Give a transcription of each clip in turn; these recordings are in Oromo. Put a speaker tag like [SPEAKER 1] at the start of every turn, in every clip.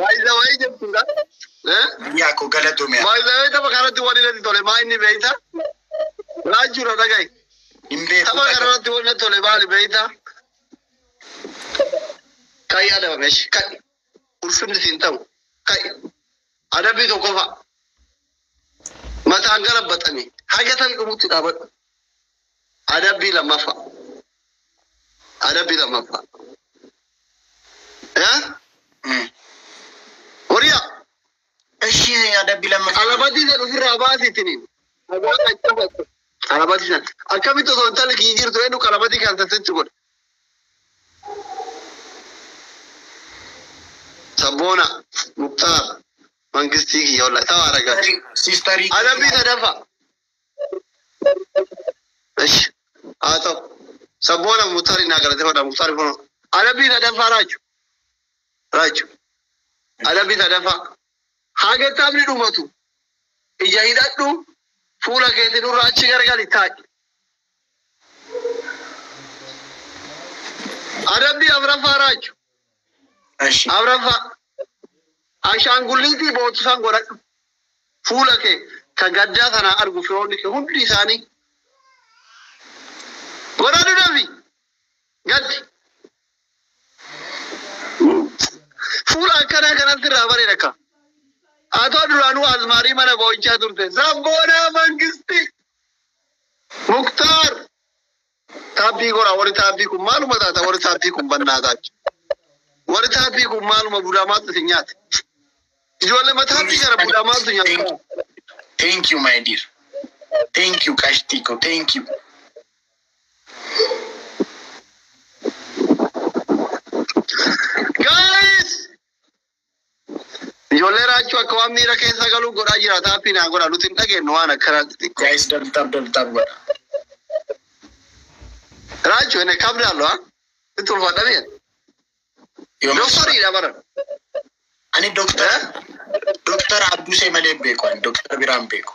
[SPEAKER 1] Baay'isawayii jechuudha. Biyyaa
[SPEAKER 2] koo galatoomee. Baay'isawee tapha kanatti waliin
[SPEAKER 1] natti tole maa inni beekta? Raajuudha dhaga'i. Hin beeku. Tapha kanarratti waliin natti tole maali beekta? Ka'i adaba meeshi ka'i. Ulfinni siin ta'u ka'i. Adabbii tokkoffaa. Mataan gara baxanii haga tarii dhumutti dhaabadhu. Adabbii lammaffaa. Adabbii lammaffaa. Eh? Mm. Horiyaa. Eshi
[SPEAKER 2] adabbi lamma. Qalabatii san ofirraa
[SPEAKER 1] baasitiniin. Dhagaa kan cabatu. Qalabatii san. Akkamitti osoo intalli kiyya jirtu eenyu qalabatii kan sassetti godhe. Sabboona. Muktaar. Mangistii kiyya olla. Tawaa ragaa. Sistarii. Adabbii
[SPEAKER 2] sadaffaa.
[SPEAKER 1] Ishi haa ta'u. Sabboona Muktaari naa galateeffadha Muktaari kunoo. Adabbii sadaffaa Raaju Raaju adabbii sadaffaa haga taphni dhumatu ija hidhadhu fuula keeti nurra achi gargali taa'i. Adabbii afraffaa raachu. Ashi.
[SPEAKER 2] Afraffaa
[SPEAKER 1] ashaangulliitii boochisan godhadhu. Fuula kee ka gaddaa kanaa argu firoonni kee hundi isaanii godhadhu dafi gaddi. Fuula akkanaa kanatti irraa bareeda akka. Atoo duraanuu azmaarii mana boo'ichaa turte. Sabboonaa mangistii. Muktaar! Taabbii goraa warri taabbii kun maaluma taata warri taabbii kun bannaa taatu. Warri taabbii kun maaluma budaa maaltu isin nyaate. Ijoollee ma taabbii kana budaa maaltu nyaata. Thank you
[SPEAKER 2] my dear. Thank you qashtii ko thank
[SPEAKER 1] you. Ijoollee raachuu akka waan miira keessa galuu godhaa jira taappii naa godha nuti hin dhageennu waan akkanaa xixiqqoo. Guys dab dab dab
[SPEAKER 2] dab godha.
[SPEAKER 1] Raachu ene kabdaallu ha itti ulfaadha miya. Doktariidha bara. Ani
[SPEAKER 2] doktora doktora Abdusee malee hin beeku ani doktora biraan beeku.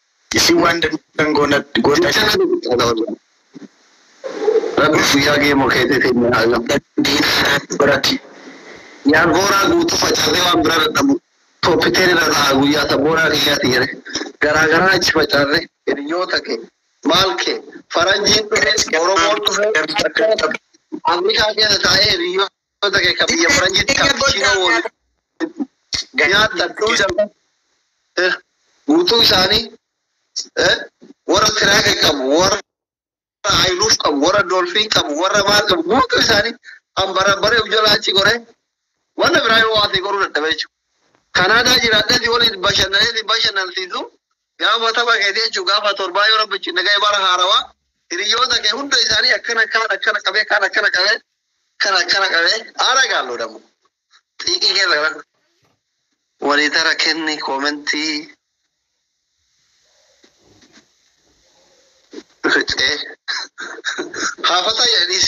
[SPEAKER 1] Isin
[SPEAKER 2] waan dandeettan goona goota jedhe.
[SPEAKER 1] Rabbii guyyaa gee mokeete keenya haa gahu. Diina irratti barati. Yaa booraa guutuu facaatee waan biraa dadhabu toopiteen irra ta'a guyyaa ta booraa kiyyaati jedhe. Garaa garaa achi facaate hiriyoota kee maal kee faranjiin dhufe oromoon dhufe akkana taphata. Afrikaa keessa taa'ee hiriyoota. Goota kee ka biyya faranjiitti kaapuchiinoo waliin nyaatan dhuusan eh, guutuu isaanii eh, warra tiraaka qabu warra ayiluuf qabu warra doolfiin qabu warra maal qabu guutuu isaanii ambara baree ujjalaa achi goree wanna biraa yoo waatee goruu dadhabee jechuudha. Kanaadaa jiraadheeti waliin bashannanee bashannansiisu Gaafa tapha keetii jechuun gaafa torbaa yoo rabbi cinna ga'e bara haarawaa hiriyoota kee hunda isaanii akkana kaan akkana qabee kaan akkana qabee kan akkana qabee haara gaallu dhamu. Xiiqii keessa gara walii tara kenni koomentii ricee haafataa jedhaniis.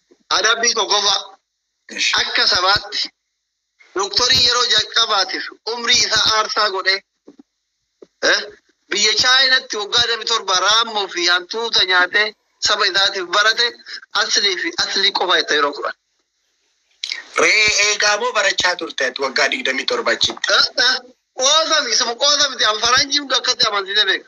[SPEAKER 1] Adabbii tokkoffaa, Akka sabaatti doktorii yeroo jalqabaatiif umrii isaa aarsaa godhee eh, biyya Chaayinatti waggaa 27 raammoo fi hantuuta nyaatee saba isaatiif barate aslii fi aslii qofa jetta yeroo fudhan. Re'ee
[SPEAKER 2] eegaa moo barachaa turte ati waggaa 27 achitti? Qoosa
[SPEAKER 1] miti isuma qoosa miti an faranjii hundi akkatti amansiisee beeka.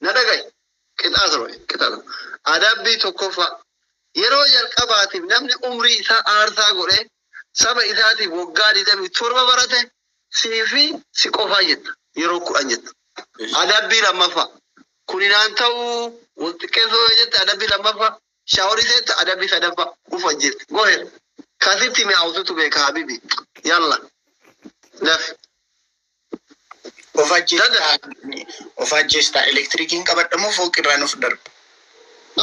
[SPEAKER 1] Na dhaga'i. Qixaa torba jedhe. Qixaa torba. Adabbii tokkoffaa. Yeroo jalqabaatiif namni umrii isaa aarsaa godhee saba isaatiif waggaa 27 barate sii fi si qofaa jetta. Yeroo kudhan jetta. Adabbii lammaffaa. Kuni naan ta'uu wal xiqqeessuu yoo jette adabbii lammaffaa. Shaaworii seetta adabbii sadaffaa. Uf ajjeefte. Gohe. Kasitti mi'aawututu beeka habibi. Yalla. Dafi. Of ajjeestaa
[SPEAKER 2] of ajjeestaa elektirikiin qabadha moo fooqirraan of darba?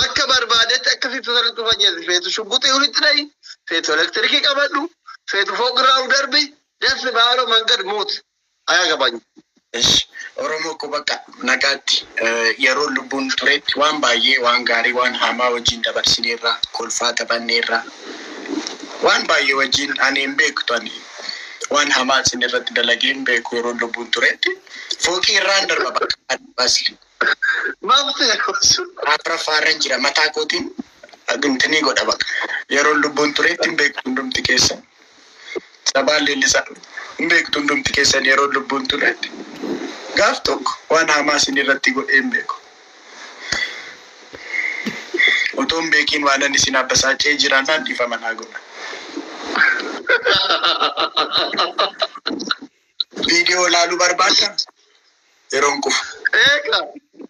[SPEAKER 2] Akka
[SPEAKER 1] barbaadetti akka feetu sanatti of ajjeesi. Feetu shugguxii ulitti dha'i, feetu elektirikii qabadhu, feetu fooqirraa of darbi, dassi baalo mangad muut. Ayaa gabaanyi. Esh
[SPEAKER 2] Oromoo koo bakka nagaatti yeroon lubbuun turetti waan baay'ee waan gaarii waan haamaa wajjin dabarsineerra kolfaa taphanneerra waan baay'ee wajjin ani hin beektu ani Waan hamaa isin irratti dalagee hin beeku yeroon lubbuun turetti. Fooqii irraan darba bakka adda baasi. Maaf
[SPEAKER 1] ta'e afraffaa irran
[SPEAKER 2] jira mataa kootiin dhimtinii godha baqa. Yeroon lubbuun turetti hin beektu hundumti keessan. Sabaan leellisaa hin beektu hundumti keessan yeroon lubbuun turetti. Gaaf tokko waan hamaa isin irratti godhee hin beeku. Utuu hin beekiin waanan isin abbasaacee jiraannaan dhifama naa godha. Viidiyoo laaluu barbaadda? Yeroon qufu.
[SPEAKER 1] Eega.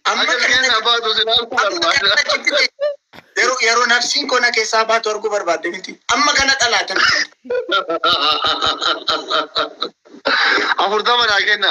[SPEAKER 1] Amma Akka kana biyya abaatu si laaluu amma kana barbaada. achitti ta'e yeroo
[SPEAKER 2] yeroo nafsiin koo na keessaa baatu arguu barbaadde miti. Amma kana dhalaatan.
[SPEAKER 1] Afurtama naa kenna.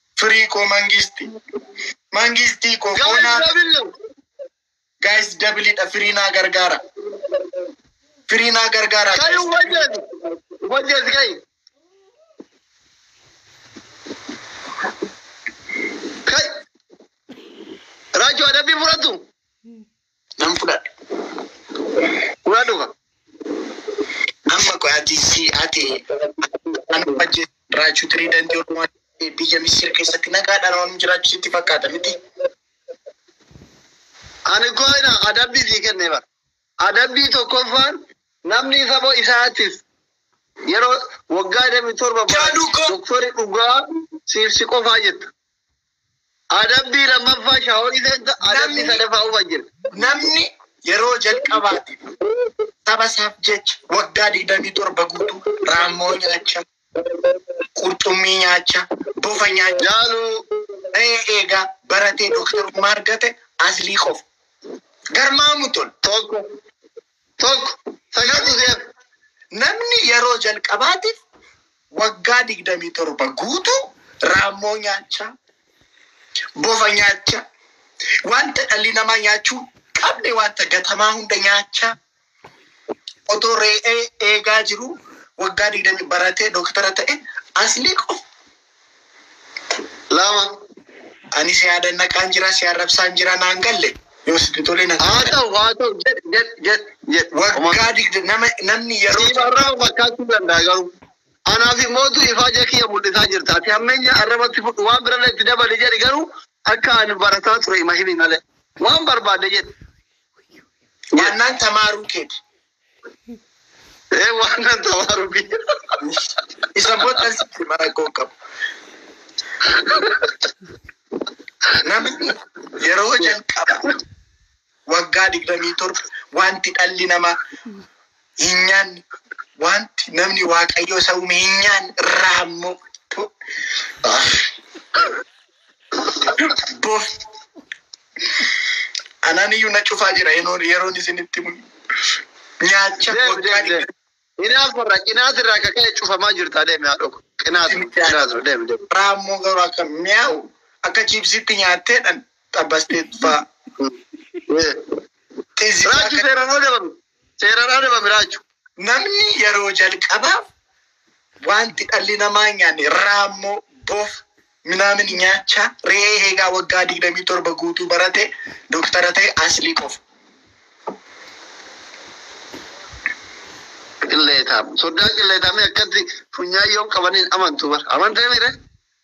[SPEAKER 1] Free
[SPEAKER 2] koo mangisti. Mangisti koo Guys, koonaa. Davillo. Guys dabilidha free naa gargaara. Free naa
[SPEAKER 1] gargaara. Kai guys. ubajes. Ubajes kai. Kai. Raju ada bi furatu.
[SPEAKER 2] nan fudhadha.
[SPEAKER 1] Dhugaa dhugaa.
[SPEAKER 2] Amma qoy ati si ati an wajji jiraachuu tirii dandii ormaa biyya Misir keessatti nagaadhaan waan jiraachuu sitti fakkaata miti.
[SPEAKER 1] Ani koo ina adabbii sii kennee bara. Adabbii tokkoffaan namni saba isaatis yeroo waggaa 27 Jaaduu koo. doktori dhugaa siif si qofaa jetta. Adabbii lammaffaa shaaworii seenta, adabbii Namni- sadaffaa ufa jira. Namni
[SPEAKER 2] yeroo jalqabaatiif saba isaaf jecha waggaa digdamii torba guutuu raammoo nyaacha, qurxummii nyaacha, bofa nyaacha, Jaaluu
[SPEAKER 1] re'ee eegaa
[SPEAKER 2] baratee dooktarummaa argate aslii qofa. Garmaamuu tol. tokko
[SPEAKER 1] 1, Fayoo Dhugeera Namni
[SPEAKER 2] yeroo jalqabaatiif waggaa 27 guutuu raammoo nyaachaa, bofa nyaachaa, wanta dhalli namaa nyaachuu hin qabne wanta gatamaa hunda nyaachaa otoo ree'ee eegaa jiruu waggaa 20 baratee doktara ta'e Asliiqoo
[SPEAKER 1] Lama ani si
[SPEAKER 2] yaadannaqaan jira si arrabsaan jira naan galle yoo sitti tole na haa ta'u haa ta'u jedh
[SPEAKER 1] jedh jedh jedh waggaa digda
[SPEAKER 2] nama namni yeroo siif arraba fakkaachuu
[SPEAKER 1] danda'a garuu anaaf immoo tu ifaaja kiyya mul'isaa jirta ati hammeenya arrabatti fudhu waan birallee itti dabali jedhi garuu akka ani barataa ture ima himi malee waan barbaadde jedhi
[SPEAKER 2] jedh ዋናን ተማሩ ኬድ Ee
[SPEAKER 1] waan nan ta'aa rubii.
[SPEAKER 2] Isa booda sitti mana koo qabu. Namni yeroo jalqaba waggaa digdamii torba wanti dhalli namaa hin nyaanne wanti namni waaqayyoo isa uume hin nyaanne irraa ammoo Bo. Anaan iyyuu na cufaa jira yeroon yeroon isinitti himu. Nyaacha Deemi, waggaa deemi, deemi. dhibba Inaaf
[SPEAKER 1] irraa qinaat irraa akka ka'e cufamaa jirtaa deemi haadhoo koo. Qinaat irraa, qinaat irraa deemi deemi. raammoo garuu
[SPEAKER 2] akka mi'aawu akka chiipsiitti nyaatteedhan xabbasteet faa. Raajii
[SPEAKER 1] seeraan ala dabame. Seeraan adabame raa jechuudha. Namni yeroo
[SPEAKER 2] jalqaba wanti dhalli namaa hin nyaanne raammoo, bofa, minaamin nyaachaa re'ee eegaa waggaa 27 guutuu barate doktara ta'e aslii qofa.
[SPEAKER 1] Qilleetaam. Soddaan qilleetaamii akkatti funyaan yoom qabaniin amantu bar. Amantee miire?